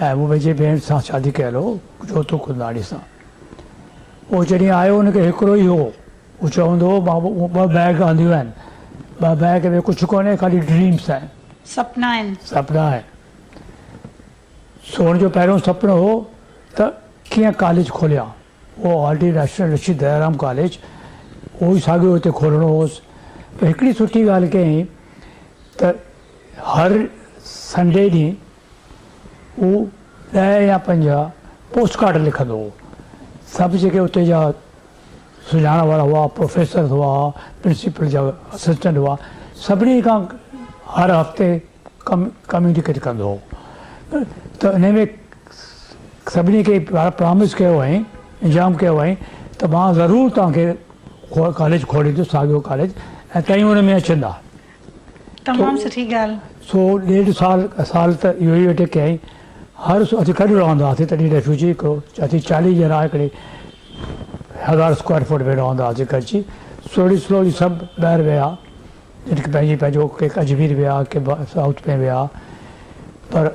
۽ مون پنهنجي ڀيڻ سان شادي ڪيل هو جوتو ڪنداڻي سان. اهو جڏهن آيو ان کي هڪڙو ئي هو. هو چوندو هو مان مون ٻه بيگ آنديون آهن. ٻه بيگ ۾ ڪجهه ڪونهي خالي ڊريمس آهن. سپنا آهن. سپنا آهن. سون جو پهريون سپنو هو ته ڪيئن ڪاليج کوليان. اهو آلريڊي راشٽر رشي ديارام ڪاليج اهو ئي ساڳيو هتي کولڻو هوس پر هڪڙي سٺي ڳالهه ڪيائين ته هر سنڊي ڏينهن هو ڏهه يا پنجاهه پوسٽ ڪارڊ لکندو هو سڀ جيڪي اتي جا سڃاڻ وارا هئا پروفيسرز هئا پرنسپل جا اسسٽنٽ هئا سڀني کان هر هفتي ڪميونيڪيٽ ڪندو هو ته انهي ۾ سڀني کي پرامس ڪيو هئائين انجام ڪيو هئائين ته مان ضرور توهان کي ڪاليج کوليندس ساڳيو ڪاليج ۽ توهين ان ۾ اچندا تمام سٺي ڳالهه سو ڏيڍ سال سال ته اهو ئي ويٽ ڪيائين هر اسين گڏ رهندا هئاسين تڏهن ريفيوجي هڪڙو اسين چاليهه ڄڻا هڪڙي هزار اسڪوائر فوٽ ۾ رهندا هئاسين گڏجي سوڙي سلولي سڀ ٻاهر ويا جن کي پنهنجي پنهنجو ڪي اجمير ويا ڪي سائوٿ ۾ ويا پر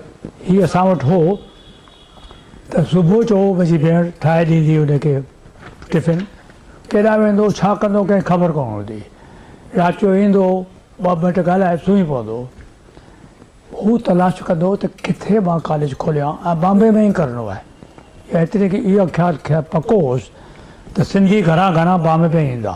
هي اسان وٽ هو ته صبح جو منهنجي ڀيڻ ٺاهي ڏيندي هئي ان کي ٽفن ڪيڏانهن ويندو ڇا ڪندو ڪنهن خبر ڪونه هوندي رات جو ايندو ٻه منٽ ڳالهائي سمهي پوندو هو تلاش ڪندو ته ڪٿي مان ڪاليج کوليان ۽ بامبي ۾ ئي ڪرڻو آهي ايتري کي اهو خيال پڪو هوس ته سنڌي گهران گهران بامبي ۾ ايندا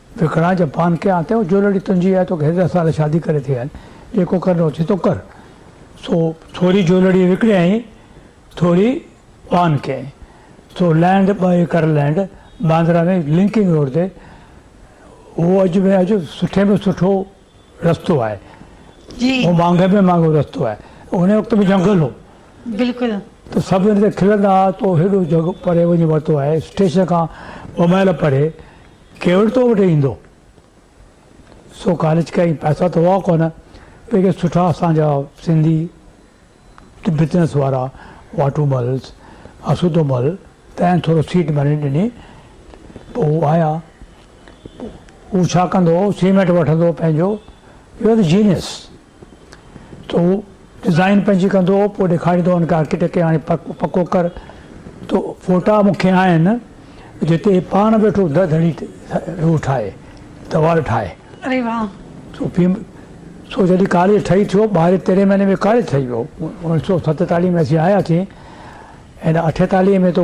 وکڻان جپان کي آتي هو جو لڙي تنهنجي آهي توکي هيڏا سال شادي ڪري ٿي آهن جيڪو ڪرڻو اٿئي تو ڪر سو ٿوري جو لڙي وڪڻيائين ٿوري پان ڪيائين سو لينڊ ٻه acre land Bandra ۾ linking road تي هو اڄ ۾ اڄ سٺي ۾ سٺو رستو آهي جي هو مانگهي ۾ مانگهو رستو آهي ان وقت ۾ جنگل هو بلڪل ته سڀ ان تي کلندا هئا تو هيڏو جڳ پري وڃي ورتو آهي اسٽيشن کان ٻه مائل پري ڪير تو وٽ ايندو؟ سو ڪاليج ڪا پئسا ته هئا ڪونه پيڪي سٺا اسان جا سنڌي بزنس وارا واٽو ملس اسودو مل تنهن ٿورو سيٽ ڀري ڏني پوء هو آيا هو ڇا ڪندو هو سيمينٽ وٺندو پنهنجو you are genius to design پنهنجي ڪندو پوء ڏيکاريندو ان کي آرڪيٽيڪٽ کي هاڻي پڪو ڪر تو فوٽا مون کي آهن جتي پاڻ ويٺو ده ڌڙي تي روح ٺاهي دوار ٺاهي اري واهه تو پيم سو جڏهن ڪاليج ٺهي ٿيو ٻاهرين تيرهين مهيني ۾ ڪاليج ٺهي ويو اوڻيهه سو ستيتاليهه ۾ اسين آياسين هن اٺيتاليهه ۾ تو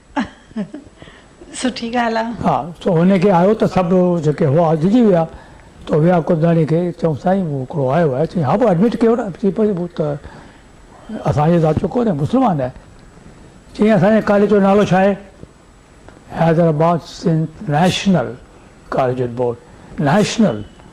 سٺي ڳالهه آ. ها سو هن کي آيو ته سڀ جيڪي هئا ڊڄي ويا تو ويا ڪلداڻي کي چيون سائين مون هڪڙو آيو آهي چيائين ها پوء ايڊمٽ ڪيو نه چي پوء ته اسان جي ذات جو ڪونهي مسلمان آهي چيائين اسان جي ڪاليج جو نالو ڇا آهي حيدرآباد سنڌ نيشنل ڪاليجن بورڊ نيشنل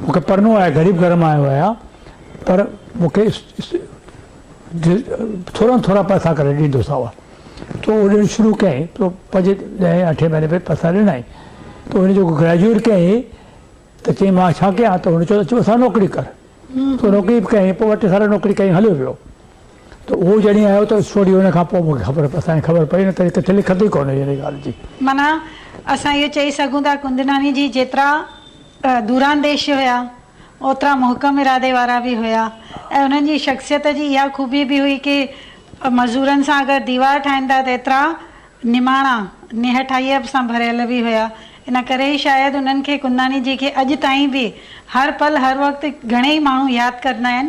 مون کي پڙهڻو آهي، غريب گهر مان آيو آهيان پر مون کي ٿورا ۾ ٿورا پئسا ڪري ڏيندو ساوا. تو اهو ڏيڻ شروع ڪيائين تو پنهنجي ڏهين اٺين مهيني ۾ پئسا ڏنائين. تو هن جيڪو گريجوئيٽ ڪيائين ته چيائين مان ڇا ڪيان ته هن چيو اچ مون سان نوڪري ڪر. تو نوڪري به ڪيائين پوء ٻه ٽي سال نوڪري ڪيائين هليو ويو. ته اهو جڏهن آيو ته اسٽوڊيو ان کان پوء مون کي خبر پئي. اسان کي خبر پئي نه ته هتي ٿلهي کتي ڪونه هئي ان ڳالهه جي. معنيٰ اسان اهو چئي سگهون ٿا ڪندناني جي جيترا دورانديش هيا اوترا محڪم ارادي وارا به هيا ۽ انهن جي شخصيت جي اها خوبي به هئي ڪي مزورن سان اگر ديوار ٺاهين ٿا ته ايترا نماڻا نهٺائيء سان ڀريل به هيا ان ڪري ئي شايد انهن کي ڪنداني جي کي اڄ تائين به هر پل هر وقت گهڻي ئي ماڻهو ياد ڪندا آهن.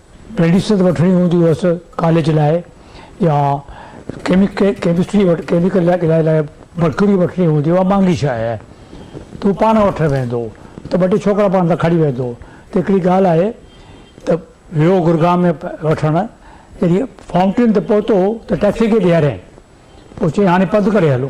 ميڊيسن وٺڻي هوندي هئس ڪاليج لاء يا ڪيمسٽري وٽ ڪيميڪل لاء ڪلائي لاء مرڪري وٺڻي هوندي اها مهانگي شيء آهي ته هو پاڻ وٺڻ ويندو ته ٻه ٽي ڇوڪرا پاڻ سان کڻي ويندو ته هڪڙي ڳالهه آهي ته ويو گرگاهه ۾ وٺڻ جڏهن فائونٽين تي پهتو ته ٽيڪسي کي بيهاريائين پوء چيائين هاڻي پنڌ ڪري هلو.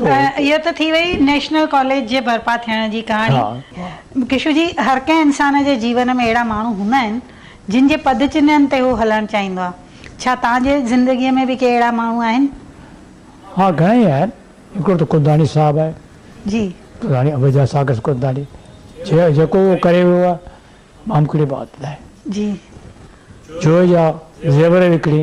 اهو ته ٿي وئي نيشنل ڪاليج جي برپا ٿيڻ جي ڪهاڻي. ڪشو جي هر ڪنهن انسان جي جيون ۾ اهڙا ماڻهو هوندا آهن جن جي پد چنهن تي هو هلڻ چاهيندو آهي. ڇا توهان جي زندگي ۾ به ڪي اهڙا ماڻهو آهن؟ ها گهڻا ئي آهن. هڪڙو ته ڪنداڻي صاحب آهي. جي. ڪنداڻي عبيدالله ساڪس ڪنداڻي جيڪو اهو ڪري ويو آهي مامڪڙي بات نه آهي. جي. جوئي جا زيور وڪڻي.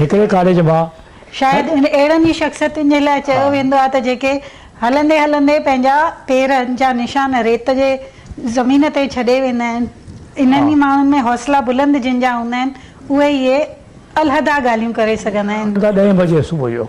هڪڙي ڪاليج مان شايد ان اهڙن ئي شخصيتن جي لاء چيو ويندو آهي ته جيڪي هلندي هلندي پنهنجا پير جا نشان ريت جي زمين تي ڇڏي ويندا آهن انهن ئي ماڻهن ۾ حوصلا بلند جن جا هوندا آهن اهي ئي علحده ڳالهيون ڪري سگهندا آهن. ڏهين بجي صبح جو.